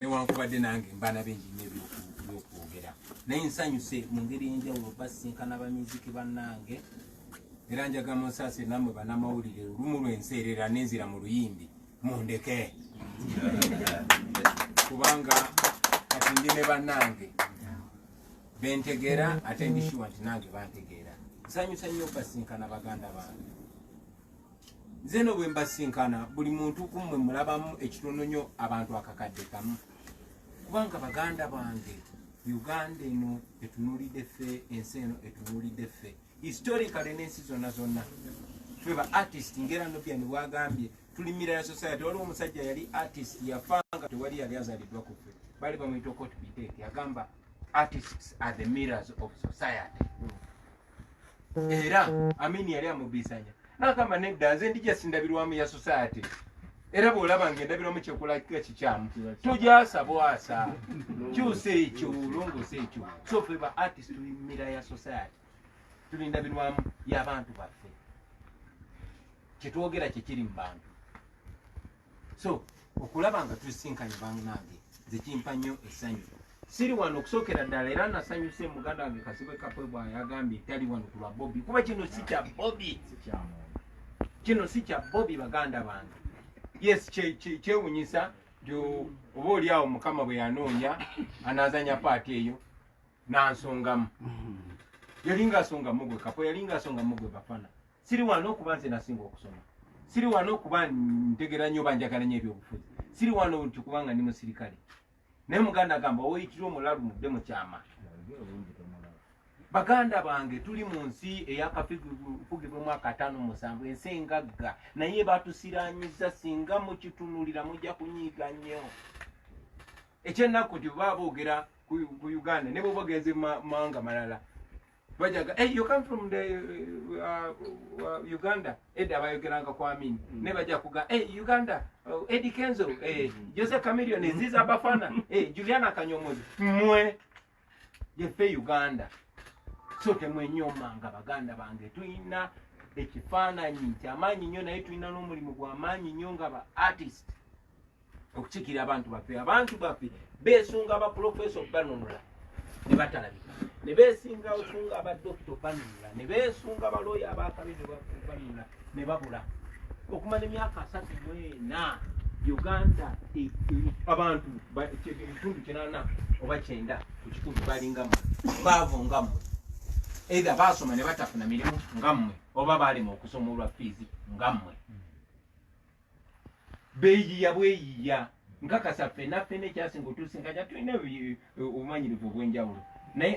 newankubadde nange mbaana bingi nyo ebyokwogera naye nsanyuse mu ngeri enjawulo basinkana bamiziki bannange era njaga munsase namwe banamawulire olumu lwenseerera nenzira mu luyimbi mundeke kubanga kati ndi ne bannange bentegeera ate ndishiwa nti nange bantegeera nsanyusa nnyo basinkana baganda bange nze no bwe mbasinkana buli muntu kumwe mulabamu ekitononyo abantu akakadde kamu kubanga baganda bange uganda eno etunulidde ffe ensi eno etunulidde ffe historically n'ensi zonna zonna ffe ba artist ngera nobiani bwagambye tuli miraya society waliwo omusajja yali artist yafanga tewali yali azaliddwa ku ffe bali bamuyita okotbiteke agamba artists are the mirrors of society mm. era amini yali amubisanya nagamba nedda nze ndi jasindabirwamu ya society era bwolaba nga endabirwamu kyekulakika kikyamu tujasa bwasa kyusa ekyo longosa ekyo so fe ba artist tulimira ya society tuli ndabirwamu yabantu baffe kyetwogera kyekiri mu bantu so okulaba nga tusisinkanye banange nze kimpa nnyo essanyu siri wano okusokera ddala era nasanyuse muganda wange kasibwe kapwe bwayagambye tali wano kulwa bobi kuba kino si kya bobi kino si kya bobi baganda bange yes kyewunyisa nti oba oli awo mukama bwe yanoonya anazanya paati eyo nansongamu yali ngaasonga mugwe kapo yali ngaasonga mugwe bafana siri wano okuba nze nasinga okusoma siri wano okuba ntegera nnyo banjagala nyo ebyobufuzi siri wano nti kubanga ndi musirikale naye muganda agamba oyitira omulalu mudde mu kyama baganda bange tuli mu nsi eyakafugibwemu akataano musanvu ensi engagga naye batusiranyiza singa mukitunulira mujja kunyiiga nnyo ekyennaku nti baba boogera ku uganda ne bwoba ogenze mumawanga malala bajaga hey, you come from the uh, uh, uganda edda bayogeranga ku amini mm. ne baja kuga hey, uganda uh, edi kenzo hey, eh, mm. jose camilion eziza bafana hey, eh, juliana kanyomozi mwe yefe uganda so temwenyomanga baganda bange tulina ekifaananyi kyamaanyi nnyo naye tulina n'omulimu gwamaanyi nnyo nga ba artist okukiikira abantu baffe abantu baffe beesunga baprofeso banunula ne batalabika ne beesinga osunga abadokita banunula ne beesunga balooya abakabi ne banunula ne babula okumala emyaka asatu mwena uganda e, e, abantu ekitundu kinana oba kyenda ku kikumi balingamu baavu ngamu eitha baasoma ne batafuna mirimu ngammwe oba baalema okusoma olwa fiizi ngammwe beeyiya bweyiya nkakasa ffena ffena ekyasinga otusinkanya tulina obumanyirivu obw'enjawulo naye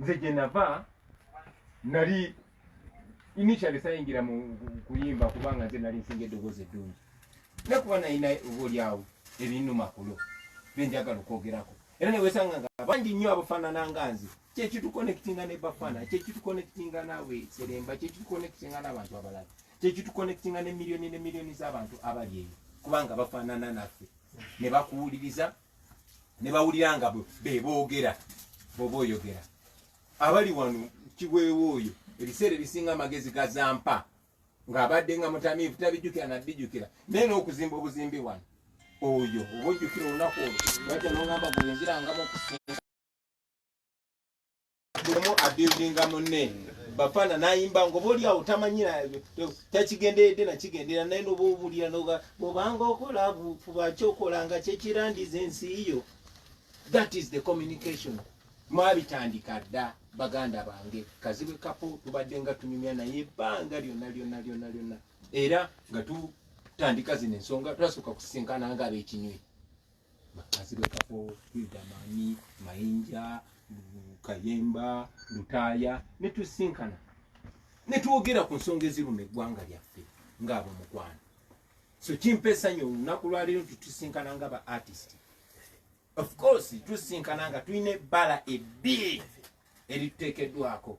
nze gye nava nali initially sayingira mu kuyimba kubanga nze nali nsinga eddoboozi eddungi nakuba nalina oba olyawo ebinuma kulo benjagala okwogerako era newesanga nga bangi nnyo abafaanana nga nze kyekitukonekitinga ne bafaana kyekitukonekitinga nawe seremba kyekitukonekitinga n'abantu abalala kyekitukonekitinga ne miliyoni ne miliyoni z'abantu abali eyo kubanga bafaanana naffe ne bakuwuliriza ne bawulira nga be boogera bwoba oyogera abali wano kiweewo oyo ebiseera ebisinga amagezi gazampa ng'abadde nga mutamiivu tabijjukira naddijjukira naye n'okuzimba obuzimbi wano oyo oba ojjukira olunaku olwo lwajja n'ogamba gwe nzirangamu okusinga bulemu abuildinga munne bafana nayimba ngoba oli awo tamanyira takigenderedde nakigendera naye noba obulira noga bobanga okola fuba kyokola nga kyekirandiza ensi yo that is the communication mwabitandika dda baganda bange kazibwe kapo tubadde nga tunyumya naye ebbanga lyonna lyonna lyonna lyonna era nga tutandika zino ensonga twasooka kusisinkana nga abekinywi Makazibwe, Kafo, Idamani, Mayinja, Kayemba, Lutaaya ne tusinkana ne twogera ku nsonga eziruma eggwanga lyaffe ng'abo mukwano. So kimpa essanyu olunaku lwaleero nti tusinkana nga ba artist. Of course tusinkana nga tulina ebbala ebbi erituteekeddwako.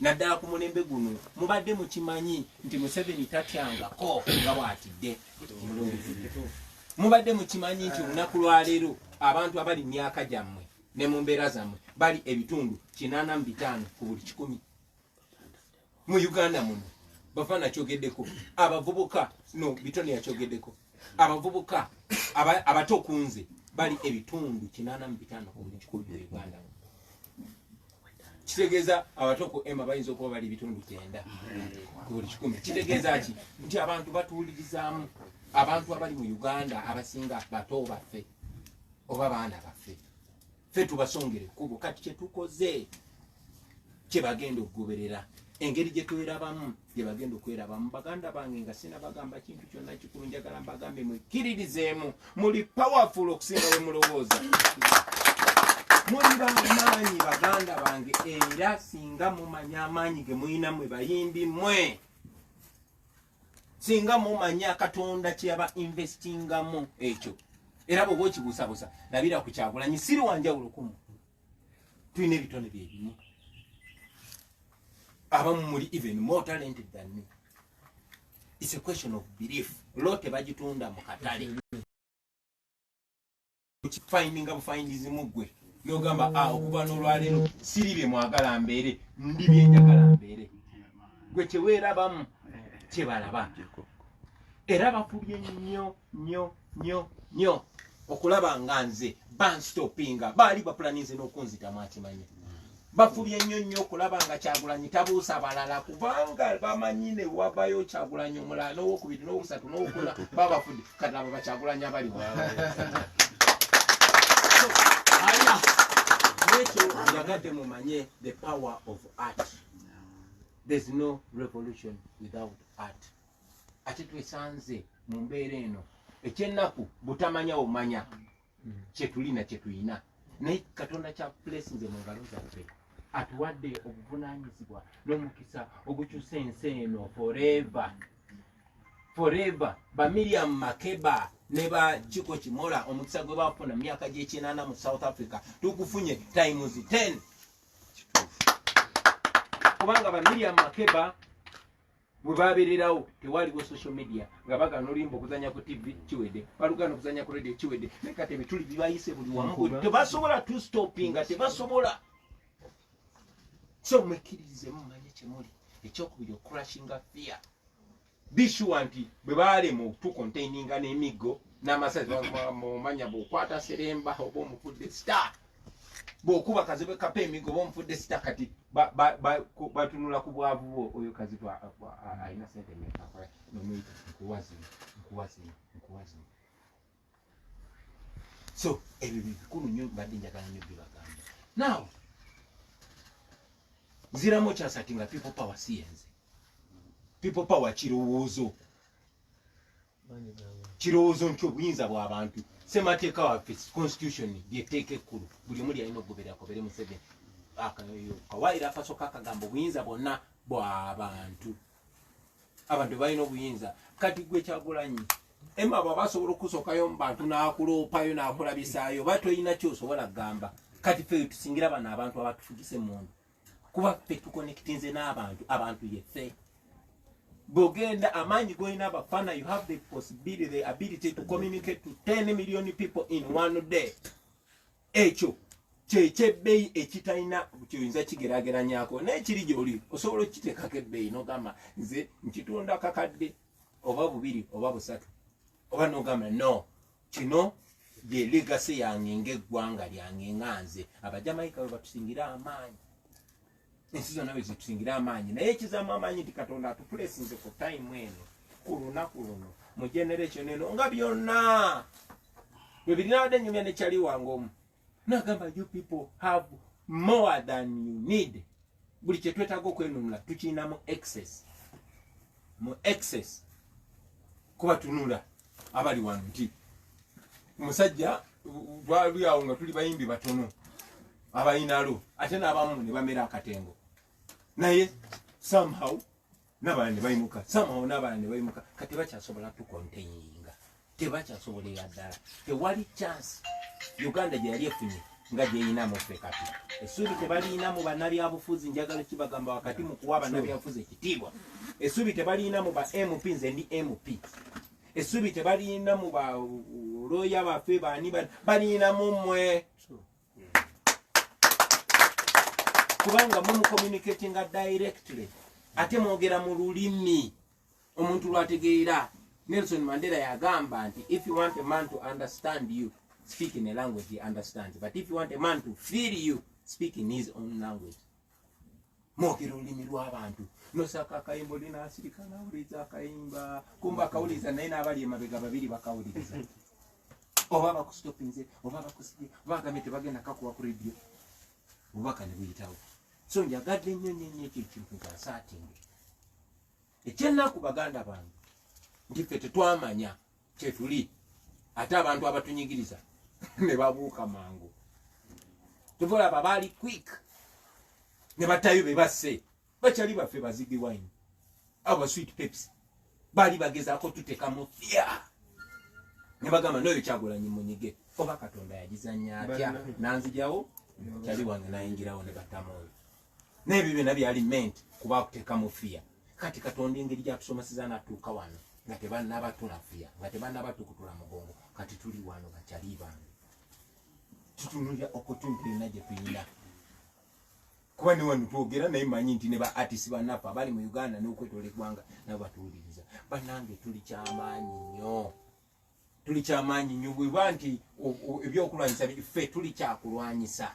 naddala ku mulembe guno mubadde mukimanyi nti museveni tatyangako nga bwatidde mubadde mukimanyi nti olunaku lwaleero abantu abali mu myaka gyammwe ne mu mbeera zammwe bali ebitundu kinaana mu bitaano ku buli kikumi mu uganda muno bafana kyogeddeko abavubuka no bitone yakyogeddeko abavubuka abato kunze bali ebitundu kinana mu bitano ku buli kikumi mu uganda kitegeeza abato ku ema bayinza okuba bali ebitundu kyenda ku buli kikumi kitegeeza ki nti abantu batuwulirizaamu abantu abali mu uganda abasinga bato baffe oba baana baffe ffe tubasongere ekkubo kati kyetukoze kyebagenda okugoberera engeri gyetwerabamu gyebagenda okwerabamu baganda bange nga sina bagamba kintu kyonna kikulu njagala mbagambe mwekkiririzeemu muli powerful okusinga we mulowooza muli bamaanyi baganda bange era singa mumanya amaanyi ge mulina mwe bayimbi mwe singa mumanya katonda kyeyaba investingamu ekyo era bwoba okibuusabuusa labira ku kyagulanyi siri wanjawulo kumu tulina ebitone byebimu abamu muli even more talented than me its a question of belief lo tebagitunda mu katale okifindinga bufindizi mu ggwe nogamba a ah, okuva n'olwaleero siri bye mwagala mbeere ndi byenjagala mbeere gwe teweerabamu kyebalaba era bafubye nnyo nnyo nnyo nnyo okulaba nga nze banstopinga baali bapulaninze n'okunzitamu akimanya bafubye nnyo nnyo okulaba nga kyagulanyi tabuusa balala kubanga bamanyi ne wabayo kyagulanyi omulala n'owokubiri n'owusatu n'owokuna babafudde kati abo bakyagulanyi abali nekyo yagadde mumanye the power of art there's no revolution without art ate twesanze mu mbeera eno ekyennaku butamanya omanya mm. kyetulina kyetulina naye katonda kyakulesinze mu ngalo zaffe atuwadde obuvunanyizibwa n'omukisa ogukyusa ensi eno foreva foreva bamiriam makeba ne ba kiko kimola omukisa gwe bafuna mu myaka gy'ekinaana mu south africa tukufunye times 10 kubanga bamiriam makeba bwebabererawo tewaliwo social media nga bagana olimba okuzanya ku tv kiwede balugana okuzanya ku radio kiwede nekati ebituli bibayise buli wamu tebasobola to stoppinga tebasobola so mwekiririze mumanye kyemuli ekyokubiri okurashinga fear bishuwa nti bwe balema okutukontaininga n'emiggo n'amasazi mumanya bweokwata seremba oba omufudde star bwokuba kazibwe kapa emigo bomufudde sita kati batunula ku bwavu bwo oyo kazibwe alina sente mekakola nomuyita nkuwazino nkuwazino nkuwazino so ebyo bikulu nyo mbadde njagala nyo byebagamba now ziramu okyasati nga people power siyenze people power kirowoozo kirowoozo nti obuyinza bwabantu semateeka waffe constitution lyetteeka ekkulu buli omu lyalina okugoberakobere museveni akawaire akasoka akagamba obuyinza bwonna bwabantu abantu balina obuyinza kati gwe kyagulanyi ema bwaba asobola okusokayo mubantu nakuloopayo nakulabisaayo oba tolina kyosobola kugamba kati fe tusingira bano abantu abatufugise mundu kuba ffe tukonekitinze n'abantu abantu yeffe bwogenda amaanyi golina abafana you have the possibility the ability to communicate to 10 million people in one day ekyo kyekyebbeyi ekitalina kyoyinza kigerageranyako naye kiri gyoli osobola okukiteekako ebbeyi nogamba nze nkitunda kakadde oba bubiri oba busatu oba nogamba no kino ye legasi yange ngaeggwanga lyange nga nze abajamaika we batusingira amaanyi ensi zonna we zitusingira amaanyi naye ekizamu amaanyi nti katonda atupulesinze ku tayimu eno ku lunaku luno mu generation eno nga byonna bwe birinawadde nyumya nekyali wange omu nagamba you people have more than you need buli kyetwetaaga okwenunula tukirina mu excess mu excess kuba tunula abali wano nti musajja twali awo nga tuli bayimbi batono abayinalo ate n'abamu ne bamera akatengo naye somehow n'abalala ne bayimuka samawo n'abalala ne bayimuka kati bakyasobola tukonteyinga tebakyasobola eya ddala tewali chansi uganda gye yali efunye nga gyeyinamu ffe kati esuubi tebaliyinamu bannabyabufuzi njagala kibagamba wakati mu kuwa bannabyabufuzi ekitiibwa esuubi tebaliyinamu ba mp nze ndi mp esuubi tebaliyinamu ba looya baffe baani baliyinamu mmwe kubanga mumucommunicatinga directly ate mwogera mu lulimi omuntu lwategeera nelson mandela yagamba nti if you want a man to understand you speak in a language he understands but if you want a man to feel you speak in his own language mwogera olulimi lw'abantu nosaka akayimba oli nasirika nawuliriza akayimba kumba akawuliriza naye n'abali emabega babiri bakawuliriza oba bakusitopinze oba bakusibye oba agambye tebagenda kakuwa ku redio obubaka ne buyitawo so njagadde nnyo nnyo nnyo ekyo ekintu nkyasaatinge ekyennaku baganda bange nti ffe tetwamanya kyetuli ate abantu abatunyigiriza ne babuuka mangu tuvolaba baali quick ne batayo be basse bakyali baffe bazibi wine aba sweet peps baali bagezaako tutekamu fya ne bagamba noyo kyagulanyi munyige oba katonda yagizanya atya nanzijawo kyali wange nayingirawo ne batamoyo n'ebyo byonna byali ment kuba akuteeka mu fiya kati katonda engeri gyatusomeseza natuuka wano nga tebanaba tunafiya nga tebanaba tukutula mugongo kati tuli wano bakyali bange tutunulira opportunity yonna gye tuyina kuba ne wano twogera naye manyi nti ne ba artist banaffe abali mu uganda n'okwetola eggwanga nabo batuwuliriza banange tuli kyamaanyi nnyo tuli kyamaanyi nyo bweba nti ebyokulwanyisa ffe tuli kyakulwanyisa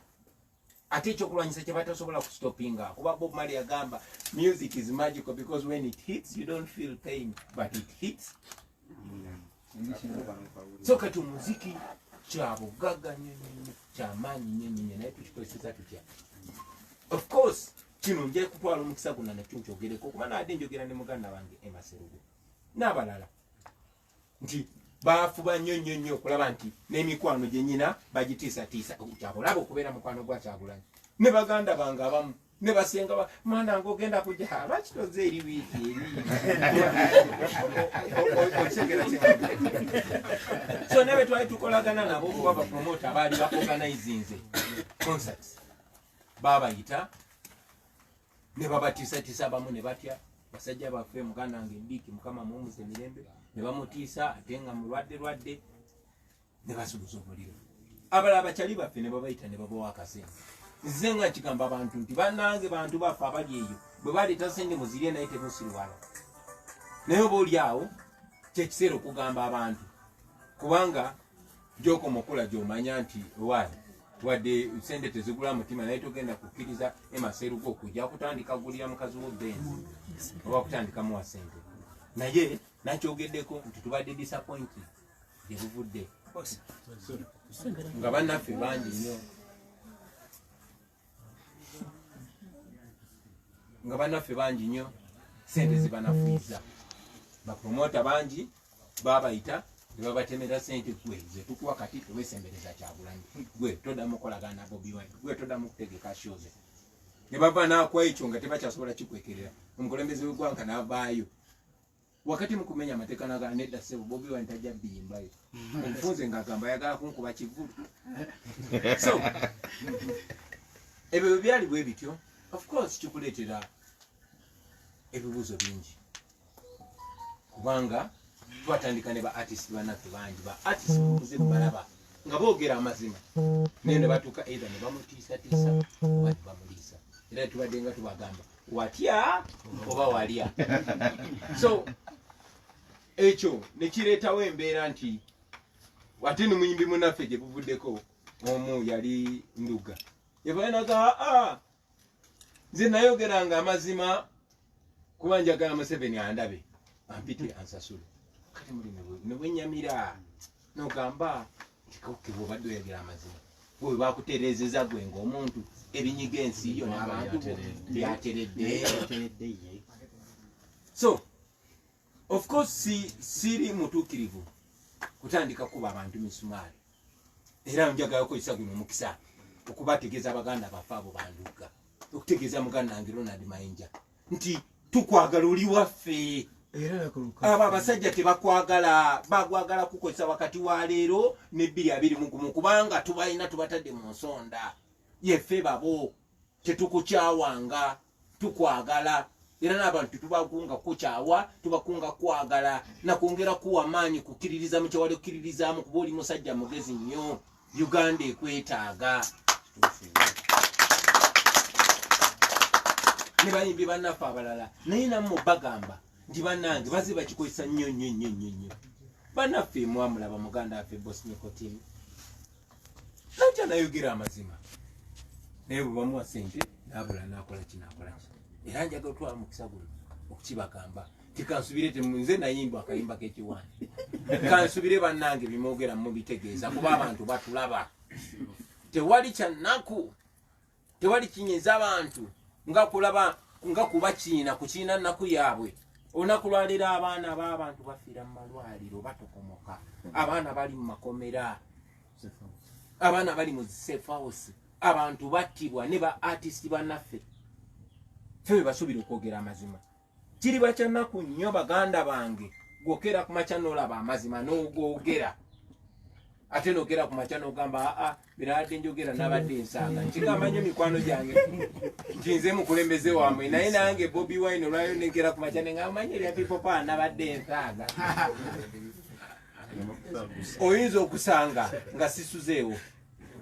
ate ekyokulwanyisa kyebatasobola kustopinga kuba bob mali yagamba music is magical because when it hits you don't feel pain but it hits so kati omuziki kyabugaga nyonyonyo kyamaanyi nyonyonyo naye tukikozeseza tutya of course kino nja kutwala omukisa guna nakyo nkyogereko kuba naade njogera ne muganda wange emaserugo n'abalala nti baafuba nnyo nnyo nnyo okulaba nti n'emikwano gye nyina bagitiisatiisa kyabulaba okubeera mukwano gwa kyagulanyi ne baganda bange abamu ne basenga mwana nga ogenda kuja lwaki toze eri wiiki erioso nabe twali tukolagana nabo kuba bapromota abaali baorganizinze concerts babayita ne babatiisatiisa abamu ne batya basajja baffe muganda wange biiki mukama muwumuze mirembe ne bamutiisa ate nga mulwadde lwadde ne basubuza omuliro abalala bakyali baffe ne babayita ne babawa akasente nze nga kigamba abantu nti banange bantu baffe abali eyo bwe baleeta sente muzirye naye temusiriwala naye oba oli awo kyekiseera okugamba abantu kubanga Joko mukula jomanya nti wali wadde sente tezigula mutima naye togenda kukkiriza emaserugo okuja kutandika gulira mukazi wo benzi oba kutandika muwa sente naye nakyogeddeko nti tubadde disappoint gyebuvudde nga bannaffe bangi nyo nga banaffe bangi nnyo sente zibanafuiza bapromota bangi babayita nebabatemera sente gwe zetukuwa kati tewesembereza kyagulanyi gwe toda mukolagana bobi wine gwe toda mukutegeka shoze nebava nakwa ekyo nga tebakyasobola kikwekerera omukulembeze wegwanga navaayo wakati mukumenya amateka naga neda sebo bobi wine tajja biyimba yo omufunze nga agamba yagala kunkuba kivulu so ebyo byali bwe bityo of course kikuleetera ebibuuzo bingi kubanga twatandika ne ba artist banaffe bangi ba artist bakuze balaba nga boogera amazima naye ne batuuka either ne bamutiisatiisa oba ne bamuliisa era tubadde nga tubagamba watya oba walya so ekyo nekireetawo embeera nti ate nomuyimbi munaffe gye buvuddeko omu yali nduga yavaenaga aa nze nayogera nga amazima kuba njagala museveni andabe ampite ansasule kati muli nebwenyamira nogamba kikoke bwobadde oyogera amazima gwe bakutereezeza gwe ngaomuntu ebinyiga ensi yo nabantu byateredde so of course si, siri mutuukirivu kutandika kuba abantu misumaali era njagala okozesa guno omukisa okubategeeza abaganda bafe abo bandugga okutegeeza muganda nange ronald mayinja nti tukwagala oli waffe abo abasajja tebakwagala bagwagala kukozesa wakati wa leero ne bbiri abiri mugumu kubanga tubalina tubatadde mu nsonda yeffe babo tetukukyawanga tukwagala era n'abantu tubakunga kukyawa tubakunga kwagala nakwongera kuwa maanyi kukkiririza mu kyewali okkiririzaamu kuba oli musajja mugezi nnyo uganda ekwetaaga ne bayimbi bannaffe abalala naye namwe bagamba nti bannange baze bakikozesa nnyo nnyo nnyo nnyo nnyo bannaffe mwamulaba muganda waffe bosnikotin najja nayogera amazima naye bwebamuwa sente nabula nakola kinakolaki era njaga otwala mukisa guno okukibagamba tikansubire nze nayimba akayimba kekiwani kansubire banange bimwogera mubitegeeza kuba abantu batulaba tewali kyanaku tewali kinyeza abantu nga kulaba nga kuba kiina kukiina naku yaabwe olunaku lwaleero abaana baabantu bafiira mu malwaliro batokomoka abaana bali mu makomera abaana bali mu zisefausi abantu battibwa ne ba artist banaffe fe bebasuubira okwogera amazima kiri bakyanaku nnyo baganda bange gwokera ku makya nolaba amazima nogogera ate nogera ku makya nogamba aa birabadde njogera nabadde nsanga nkigamba nyo mikwano gyange nti nze mukulembeze wamwe naye nange bobi wine olwayo negera ku makya nengamanya erya pipopa nabadde nsanga oyinza okusanga nga sisuzeewo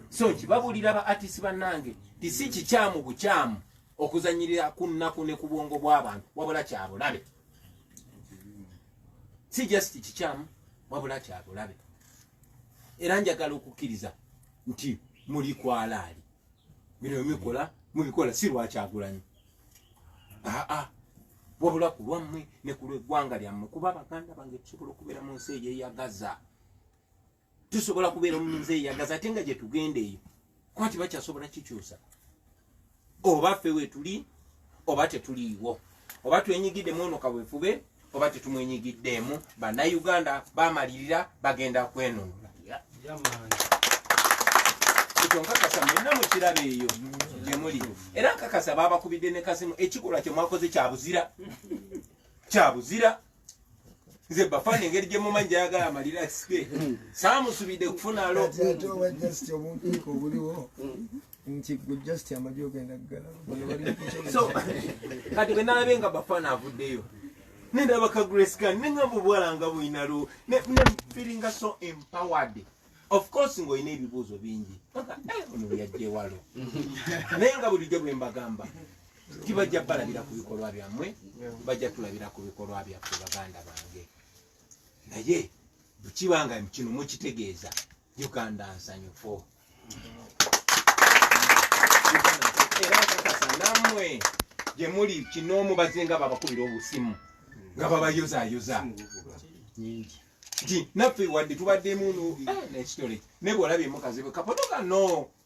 so nkibabulira ba atisi banange tisi kikyamu bukyamu okuzanyirira ku nnaku ne ku bwongo bw'abantu wabula kyabulabe si just kikyamu wabula kyabulabe era njagala okukkiriza nti muli kwalaali bino bimikola mubikola si lwakyagulanyi aa wabula ku lwammwe ne ku lweggwanga lyammwe kuba baganda bange tusobola okubeera mu nsi eyo eyagaza tusobola kubeera omunze eyagaza ate nga gyetugenda eyo kuba tibakyasobola kikyusa oba ffe wetuli oba tetuliiwo oba twenyigidde mwono kawefube oba tetumwenyigiddeemu bannayuganda bamalirira bagenda kwenunula ekyo nkakasa mwenna mukiraba eyo gyemuli era nkakasa babakubidde ne kasimu ekikolwa kyemwakoze kyabuzira kyabuzira nze bafana engeri gye mumanyi gyayagala amalira sike saamusubidde kufuna lobuliwo nti gwe just amagi ogenda kugalaso kati bwe nalabe nga bafana avuddeyo nendaba ka grescan ne nga mubwalanga bulina lo ne feelinga so empowered of course ng'olina ebibuuzo bingi eh, ono yajjewalo naye nga bulijjo bwe mbagamba tibajja balabira ku bikolwa byammwe bajja tulabira ku bikolwa byaffe baganda bange naye bwekibanga kino mukitegeeza uganda nsanyufu era kakasa namwe gyemuli kinoomu bazinga babakubira obusimu nga babayozayoza nti naffe wadde tubaddemu nekitole naye bwolabye mukazi bwe kapoto kano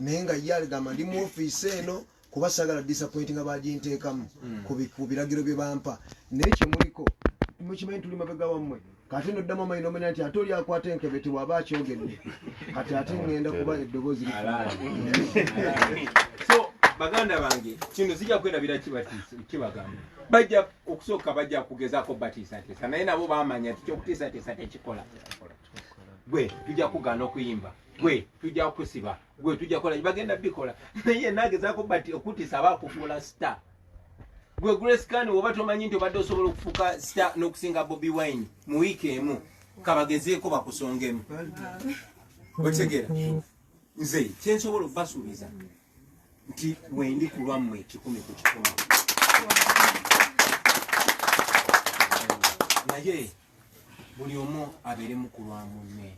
naye nga ye aligamba ndi mu ofiisi eno kuba sagala disappointi nga baginteekamu hmm. ku biragiro bye bampa naye kyemuliko mukimanyi tuli mabega wammwe kati no ddamu amanyi nomanya nti ate oli akwata enkebe tewaba akyogedde kati ate ŋŋenda kuba eddoboozi li so baganda bange kino zijja kwerabira kibagamba bajja okusooka bajja kugezaako batiisateesa naye nabo bamanya ti kyokutiisateesa tekikola gwe tujja kugaana okuyimba gwe tujja kusiba gwe tujja kola bagenda bikola naye nagezako but okutisa bakufuula star gwe grace kan woba tomanyi nti obadde osobola okufuuka star n'okusinga bobi wine mu wiiki emu kabagezeeko bakusongemu otegera nze kyensobola okubasuubiza nti wendi kulwammwe kikumi ku kikumi naye buli omu abeeremu ku lwa munne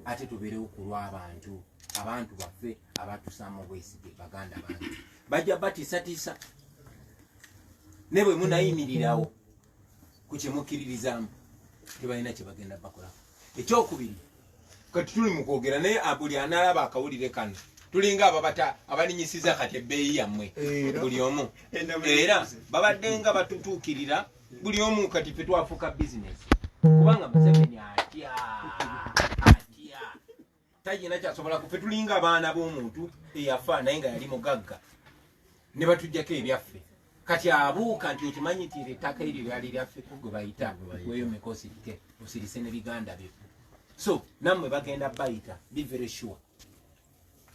ate tubeerewo ku lw'abantu abantu baffe abatusaamu obwesige baganda bantu bajja batiisatiisa ne bwe munayimirirawo ku kye mukkiririzaamu tebalina kye bagenda bakolako ekyokubiri kati tuli mu kwogera naye buli analaba akawulire kano tulinga ababata abalinyisiza kati ebbeeyi yammwe buli omu era babadde nga batutuukirira buli omu kati fe twafuuka bizinesi kubanga museveni atya atya tayina kyasobola kufe tulinga abaana b'omuntu eyafa naye nga yali mugagga ne batujjako ebyaffe kati abuuka nti okimanyi nti ettaka eryo lyali lyaffe gwe bayita weyo mikosi ke osirise ne biganda byo so nammwe bagenda bayita be very sure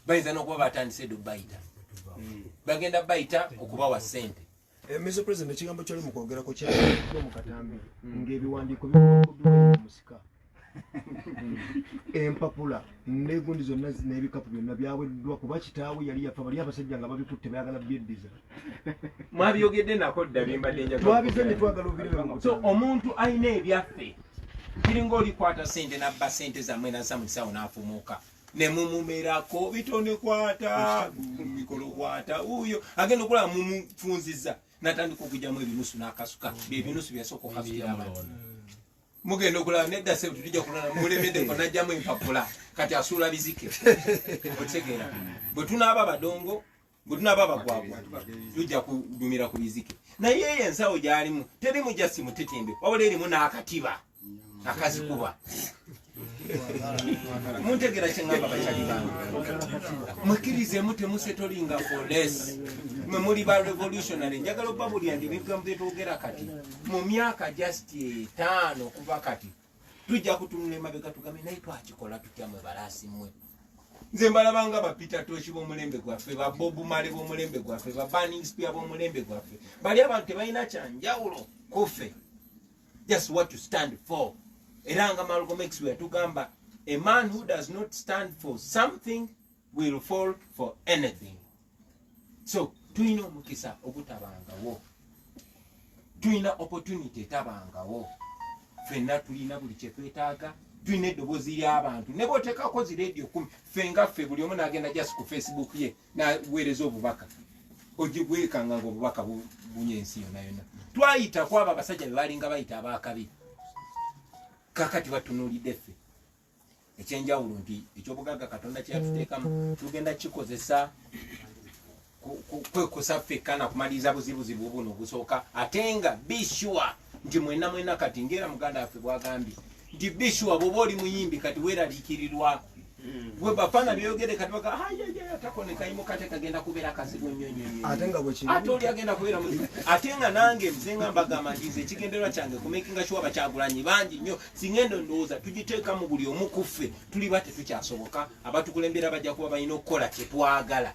bayinza n'okuba batandise do bayita hmm. bagenda bayita okubawa sente eh, Mr. President, ekigambo kyali mu kwogerako kyali mu katambi hmm. ng'ebiwandiiko bikuddwa musika empapula negundi zonna nebikapu byonna byaweddwa kuba kitaawe yali yafa bali abasajja nga babikutte bayagala byeddiza mwabyogedde nako dda bimbaddetwabizanye twagala obireso omuntu alina ebyaffe kiringa olikwata sente nabba sente zammwe nasa mu kisawo nafumuuka nemumumerako bitonekwata mikolokwata uyo agenda okulaba mumufunziza natandika okujamu ebinusu nakasuka byebinusu byasooka okasukira abantu mugenda okulaba nedda sebuti tujja kulala mulemedeko najjamu empapula kati asuula bizike otegeera bwe tunaaba badongo bwe tunaaba abagwagwa tujja kugumira ku bizike naye eyo ensawo gyalimu terimu jasi mutitimbe wabula erimu n'akatiba akazikuba muntegera kyengamba bakyali bange mukirizeemu temusetolinga foles mwe muli ba revolutionary njagala oba buli andi ebigambo byetwogera kati mu myaka just etaano kuba kati tujja kutunula emabega tugambe naye twakikola tutya mwe balaasi mwe nze mbalabanga bapita toki bomulembe gwaffe babobumale bomulembe gwaffe babaningspia bomulembe gwaffe bali abantu tebalina kyanjawulo kuffe just what to stand for era nga malgomex weyatugamba a man who does not stand for something will fall for anything so tulina omukisa ogutabangawo tulina opportunity etabangawo fenna tulina buli kyetwetaaga tulina eddobozi ly'abantu ne bwoteekako zi radio kumi ffe nga ffe buli omu nagenda just ku facebook ye naweereza obubaka ogibwekanga nga obubaka bunya ensi yona yona twayita kwabo abasajja bebalinga bayita abakabi kakati batunulidde ffe ekyenjawulo nti ekyobugagga katonda kyeyatuteekamu tugenda kikozesa kwekusa ffekka nakumaliriza buzibuzibu buno obusooka ate nga bishuwa nti mwena mwena kati ngaera muganda waffe bwagambye nti bishuwa bwoba oli muyimbi kati weraliikirirwa gwe bafana byogere kati baka hayaya takone kayimo kate kagenda kubera kazibu nnyo nnyo nnyo ate nga bwe kiri ate oli agenda kubera mu ate nga nange mzenga mbaga manjize kigenderwa kyange ku making sure bachagulanyi bangi nnyo singa eno endowooza tugiteekamu buli omu ku ffe tuliba tetukyasoboka abatukulembera bajja kuba balina okukola kyetwagala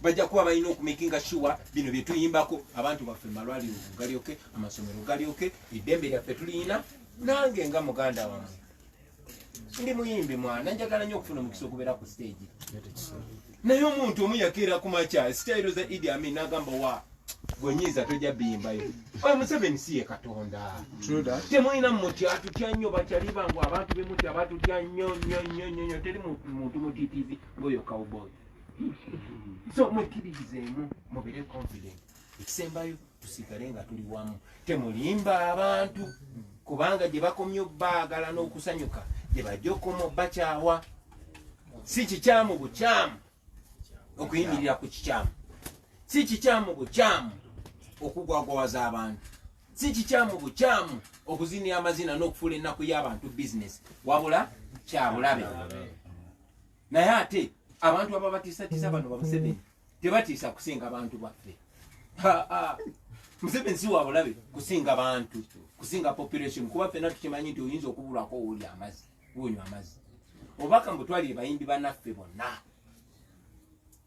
bajja kuba balina okumakinga sure bino byetuyimbako abantu baffe malwaliro galyoke amasomero galyoke eddembe lyaffe tuliyina nange nga muganda wamwe ndi muyimbi mwana njagala nyo okufuna omukisa okubeera ku stage naye omuntu omu yakeera ku makya sitayiro za idi amin n'agamba wa gwenyinza tojja biyimbayo oyo museveni si ye katonda temulina muti atutya nnyo bakyali bangu abantu bemuti abatutya nnyo nnyo nnyo nnyo nnyo teri muntu mutitizi ng'oyo cowboy so mwekiririzeemu mubere confident ekisembayo tusigale nga tuli wamu temulimba abantu kubanga gye bakomye obaagala n'okusanyuka gye bajja okoma obakyawa si kikyamu bukyamu okuyimirira ku kikyamu si kikyamu bukyamu okugwagwawaza abantu si kikyamu bukyamu okuzinira amazina n'okufuula ennaku y'abantu bizinesi wabula kyabulabe naye ate abantu ababatisatisa bano bamuseveni tebatiisa kusinga bantu baffe museveni si wabulabe kusinga bantu kusinga population kuba fena tukimanyi nti oyinza okubulwako owoli amazi wonywa amazi obubaka mbutwalire bayimbi banaffe bonna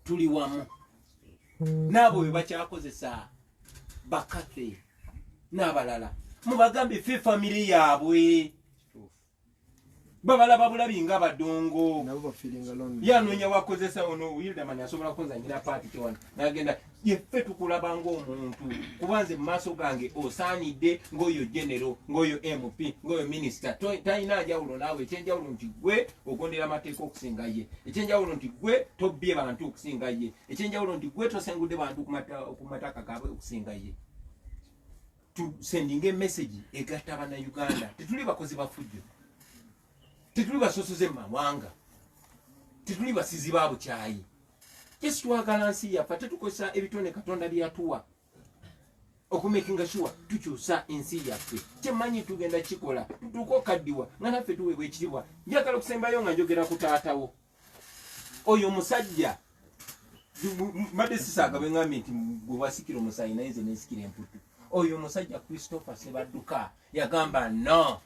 tuli wamu naabo bwe bakyakozesa bakathe n'abalala mubagambe fe famiry yaabwe babalaba bulabi nga badongo yanoonya wakozesa ono wildaman asobola kunzanyira paati kiwano nagenda yeffe tukulaba ngaomuntu kuba nze mumaaso gange osaanidde ngaoyo genero ngaoyo mp ngaoyo minisita talina njawulo naawe ekyenjawulo nti gwe ogondera amateeka okusinga ye ekyenjawulo nti gwe tobbye bantu okusinga ye ekyenjawulo nti gwe tosengudde bantu ku mataka gaabwe okusinga ye tusendinga emesegi egatta bannayuganda tetuli bakozi bafujjo tetuli basosoze mumawanga tetuli basizi ba bukyayi jesi twagala nsi yaffe tetukozesa ebitone katonda byeyatuwa okumakinga sure tukyusa ensi yaffe kyemanyi tugenda kikola tutuuka okaddiwa nga naffe tuweebwa ekitibwa njagala okusembayo nga njogera ku taatawo oyo musajja mbadde sisaaga bwengambye nti gwe wasikira omusayi naye nze nesikira emputu oyo omusajja christopher sebadduka yagamba no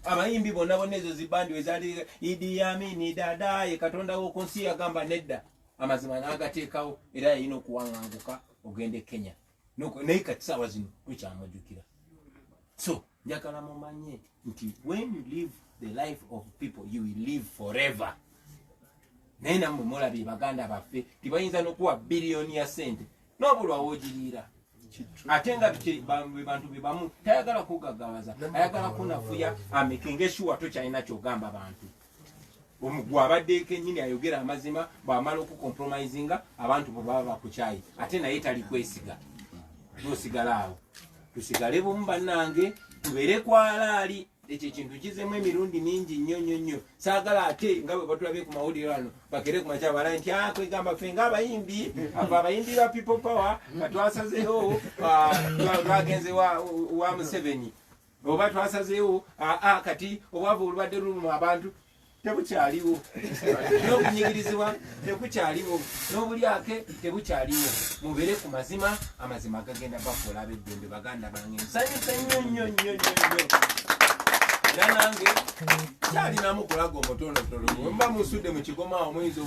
abayimbi bonna bonna ezo zibandi wezali idi yamini dadaye katonda woku nsi yagamba nedda amazima nagateekawo era yalina okuwanganguka ogende kenya noko naye kati sawa zino tukyamujukira so njagala mumanye nti when you live the life of people you will live forever naye namwe mulabye baganda baffe tibayinza nokuwa biliyoni ya sente nobulwa wogiriira ate nga bantu bebamu tayagala kugagawaza ayagala kunafuya amekinga esuwa tokyalina kyogamba bantu gwe abadde kenyini ayogera amazima bwamala okucompromisinga abantu bwebaba bakukyayi ate naye tali kwesiga nosigala awo tusigale bumu bannange tubeere kwalaali ekyo ekintu kizemu emirundi mingi nnyo nnyo nnyo saagala ate nga bwe batulabye ku mawulire wano bakere ku makya bala nti ah, kwegamba fe nga abayimbi ava abayimbi ba people power nga twasazeewo ah, twagenze wa museveni oba twasazeewo aa kati obwavu olubadde luluma abantu tebukyaliwo n'obunyigirizibwa tekukyaliwo n'obulyake tebukyaliwo mubeere ku mazima amazima gagenda bafuula abeddembe baganda bange nsanyusa nnyo nnyo nnyo nnyo nnyo era nange kyalinamu kulaga omutonotono mba musudde mu kigoma awo muyinza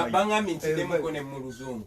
obaŋambye ntidemuko ne mu luzungu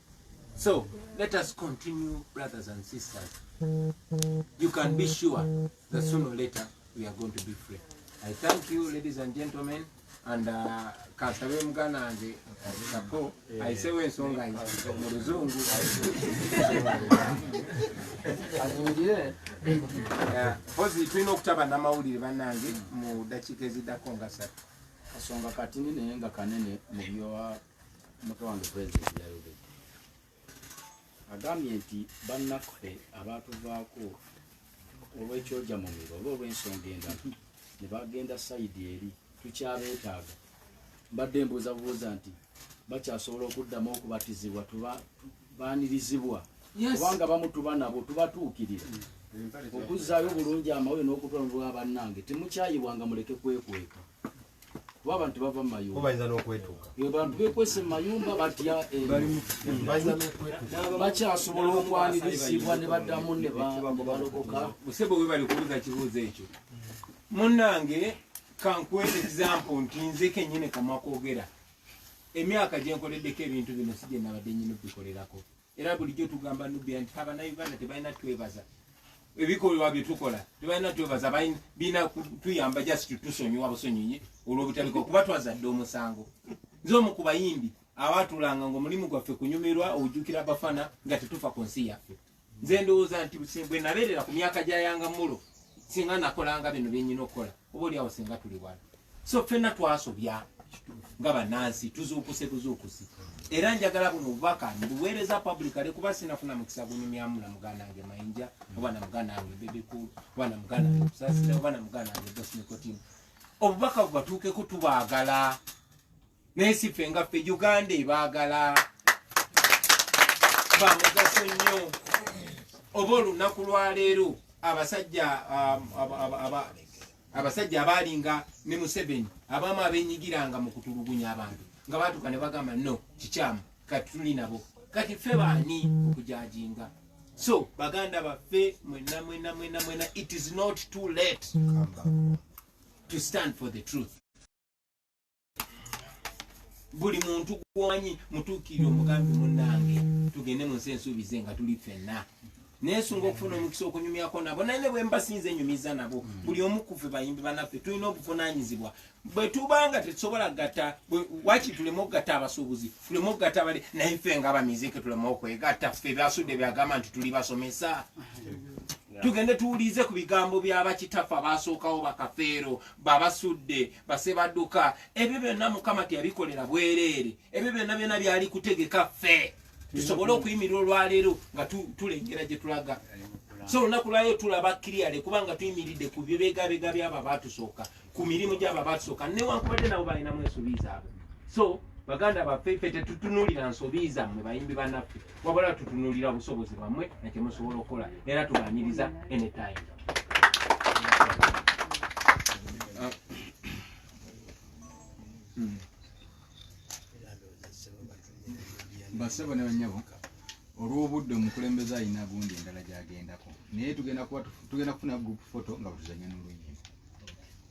So let us continue brothers and sisters. You can be sure that sooner or later we are going to be free. I thank you ladies and gentlemen and uh, kasabe mugana wange ako ayisewo ensonga mu luzungu pozi tulina okutaba namawulire banange mu dakiika eziddako nga satu kasonga katini naye nga kanene mu byowa omubaka wange president yayogedde agambye nti bannaffe abaatuvaako olw'ekyoja mu miro oba olw'ensonga endala ne bagenda sayidi eri tukyabeetaaga mbadde mbuuza bubuuza nti bakyasobola okuddamu okubatizibwa tubaanirizibwa kubanga bamu tuba nabo tubatuukirira okuzzaayo obulungi amawulire n'okutwala mu bwa bannange temukyayibwanga muleke kwekweka kuba abantu bava mu mayumba bayinza n'okwetuuka abantu bekwese mu mayumba batya eh, bakyasobola okwanirizibwa ne baddamu ne balokoka musebo we bali kubuuza kibuuzo ekyo munnange kankuwa ekisampo nti nze kennyini kamwa kwogera emyaka gye nkoleddeko ebintu bino si gye nabadde nyini bikolerako era bulijjo tugamba nubia nti abanauganda tebalina twebaza ebikolwa byetukola tebalina twebaza bina tuyamba just tusonyiwa busonyinyi olwobutabika kuba twazadde omusango nze omu ku bayimbi awatulanga nga omulimu gwaffe kunyumirwa ojukira abafana nga tetufa ku nsi yaffe nze ndowooza nti bwe nabeerera ku myaka gya yanga mulo singa nakolanga bino byenyina okukola oba oli awo singa tuli wala so fenna twasobya nga banansi tuzuukuse buzuukusi era njagala buno obubaka mbuweereza public ale kuba sinafuna mukisa gunyumyamu na muganda wange mayinja oba na muganda wange bebekulu oba na muganda wange kusasira oba na muganda wange bosmikotimu obubaka bubatuukeko tubaagala naye si ffe nga ffe uganda ebaagala bamugaso nnyo oba olunaku lwaleero abasajja um, abasajja abaalinga ne museveni abamu abenyigiranga mu kutulugunya abantu nga batuka ne bagamba no kikyamu kati tuli nabo kati ffe baani okujajinga so baganda baffe mwena mwena mwena mwena it is not too late to stand for the truth buli muntu gwomanyi mutuukirire omugambi munange tugende mu nsi ensuubize nga tuli ffenna nesunga okufuna omukisa okunyumyako nabo naye nebwembasinza enyumiza nabo mm. buli omukufe bayimbi banaffe tulina obuvunanyizibwa bwetubanga tetusobola gata waki tuleme okugata abasuubuzi tuleme okugata bali naye ffe nga bamiziki tuleme okwegatta ffe byasudde byagamba nti tuli basomesa tugende tuwulize ku bigambo byabakitaffe abaasookawo bakafeero babasudde basebaduka ebyo byonna mukama teyabikolera bwereere ebyo byonna byona byali kutegeka ffe tusobole okuyimirira olwaleero nga tulengera gye tulaga so olunaku lwaleero tulaba kiriyale kubanga tuyimiridde ku byobegabega byabo abatusooka ku mirimu gyabo abatusooka newankubadde nabo balinamu ensobi zaabwe so baganda baffe ffe tetutunuulira nsobi zammwe bayimbi banaffe wabula tutunulira busobozi bwamwe nekyemusobola okukola era tubaniriza anytime basebo ne banyabo olw'obudde omukulembeze alina gundi endala gyagendako naye tugenda kufuna group photo nga butuzanya n'oluyimba